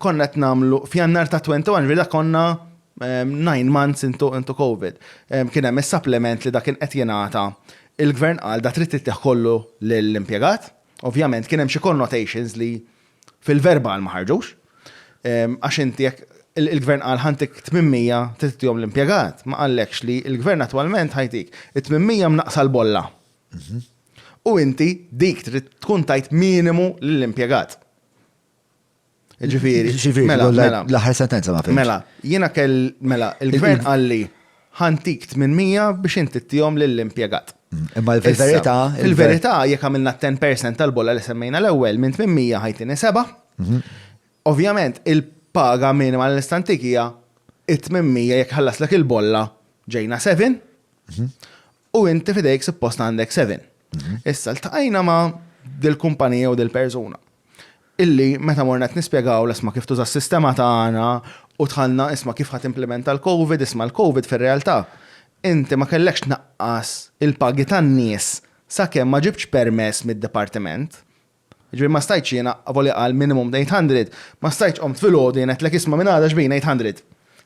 Konna qed nagħmlu f'Jannar ta' 21 vila konna nine months into, into COVID. Kien hemm is-supplement li dak kien qed jingħata. Il-gvern qal da trid tittieħ kollu lill-impjegat. Ovvjament kien hemm xi connotations li fil-verbal ma ħarġux. Għax inti jekk il-gvern qal ħantik 800 titjom l-impjegat, ma qallekx li il-gvern attwalment ħajtik 800 mnaqsa l-bolla. Mhm. U inti dik trid tkun tajt minimu lill-impjegat. Ġifiri, ġifiri, mela, mela. L-aħħar sentenza ma fimx. Mela, jiena kell, mela, il-gvern għalli ħantik 800 biex inti t-tijom l-impiegat. Mm, imma il-verita. Il-verita, jek għamilna 10% tal-bolla li semmejna l-ewel, minn 800 ħajtini 7. Mhm. Ovvjament, il-paga minima l-istantikija, it-800 jek ħallaslek il-bolla ġejna 7. Mhm. U inti fidejk suppost għandek seven. Mhm. Issa ltaqajna ma' dil-kumpanija u dil-persuna. Illi meta morna qed nispjegaw l-isma kif tuża s-sistema tagħna u tħallna isma kif ħat implementa l-COVID, isma l-COVID fir-realtà. Inti ma kellekx naqqas il-pagi tan-nies sakemm ma ġibx permess mid-dipartiment. Jiġifieri ma stajtx jiena, avolja qal minimum eight hundred, ma stajtx qomt filgħodu jien għedtlek isma' minn għada x'bin eight hundred.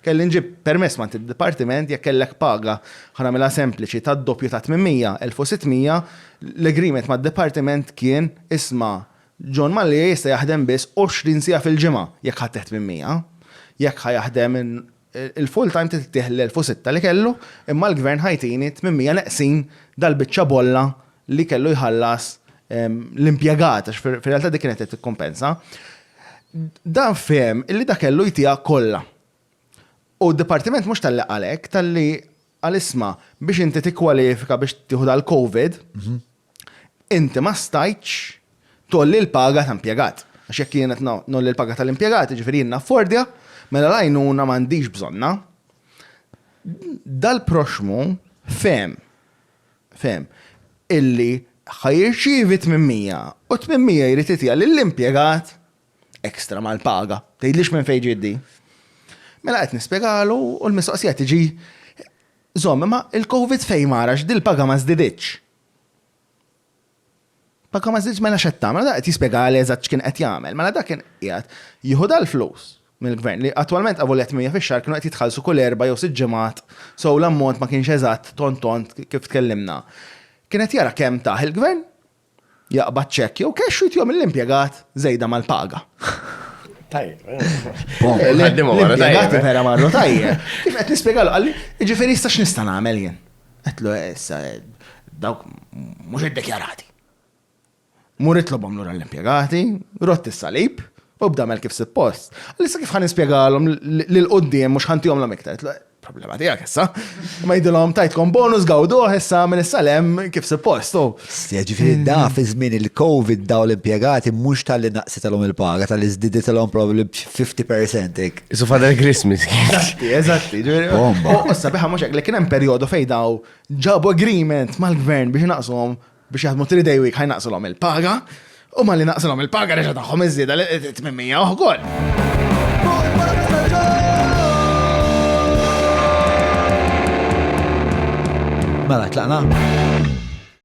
Kelli nġib permess m'għand id-dipartiment jekk kellek paga, ħa nagħmilha sempliċi, tad-doppju ta' tmien mija, elf u sitt mija, l-agreement mad-dipartiment kien isma' John Mallia jista' jaħdem biss għoxrin siegħa fil-ġimgħa jekk ħadd tmien mija. Jekk ħa jaħdem Il-full time titltih l-1006 li kellu imma l-Gvern Ħajtini 800 neqsin dal-biċċa bolla li kellu jħallas l-impjegat għax fir-realtà dik kienet qed tikkumpensa. Dan fehem illi dak kellu jtiha kollha. U d-Dipartiment mhux talli qal hekk, talli Qal isma', biex inti tikkwalifika biex tieħu dal-Covid, inti ma stajtx tgħolli l-paga ta' impjegat. Għax jekk jien qed ngħolli l-paga tal-impjegat, jiġifieri jien naffordja, mela l-għajnuna m'għandix bżonnha. Dal-proxxmu fehem, fehem, illi ħa jirċievi 800 u 800 jrid jtiha lill-impjegat. ekstra mal-paga. Tgħidlix minn fejn ġiet din. Mela qed nispjegalu u l-mistoqsija tiġi Zom, imma il-Covid fejn marax dil-paga ma żdiditx. Paga ma żdidx mela x'qed tagħmel, qed jispjega għal eżatt x'kien qed jagħmel. Mela dak kien qiegħed jieħu dal-flus mill-gvern li attwalment għavu qed mija fix-xahar kienu qed jitħallsu kull erba' jew sitt ġimgħat, so l-ammont ma kienx eżatt tont tont kif tkellimna. Kien qed jara kemm taħ il-gvern Jaqbad ċekk jew cash u jtihom l-impjegat żejda mal-paga. Tajjeb. L-impjegat vera marru tajjeb. Kif qed nispjegalu qalli, jiġifieri issa x'nista' nagħmel jien? Qedlu eh, issa eh, dawk mhux iddekjarati. Murit lobhom lura l-impjegati, rott is-salib, u bdamel kif suppost. Lissa kif ħan nispjegalhom li l-qoddim mhux ħantihom l-amiktar. problema tijak issa. Ma jidilom tajtkom bonus gawdu issa minn issa lem kif suppost. Ġifiri da fi żmien il-Covid daw l-impiegati mux tal-li naqsitalhom il-paga, tal-li żdiditalhom probabli 50% ik. Isu fadal Christmas. Eżatti, eżatti. Bomba. U sabiħa mux li kien hemm perjodu fejn daw ġabu agreement mal-gvern biex naqshom biex jaħdmu three day week ħajnaqsilhom il-paga, u ma li naqsilhom il-paga reġa' tagħhom iżjeda li 800 uħgol. Mela, tlaqna?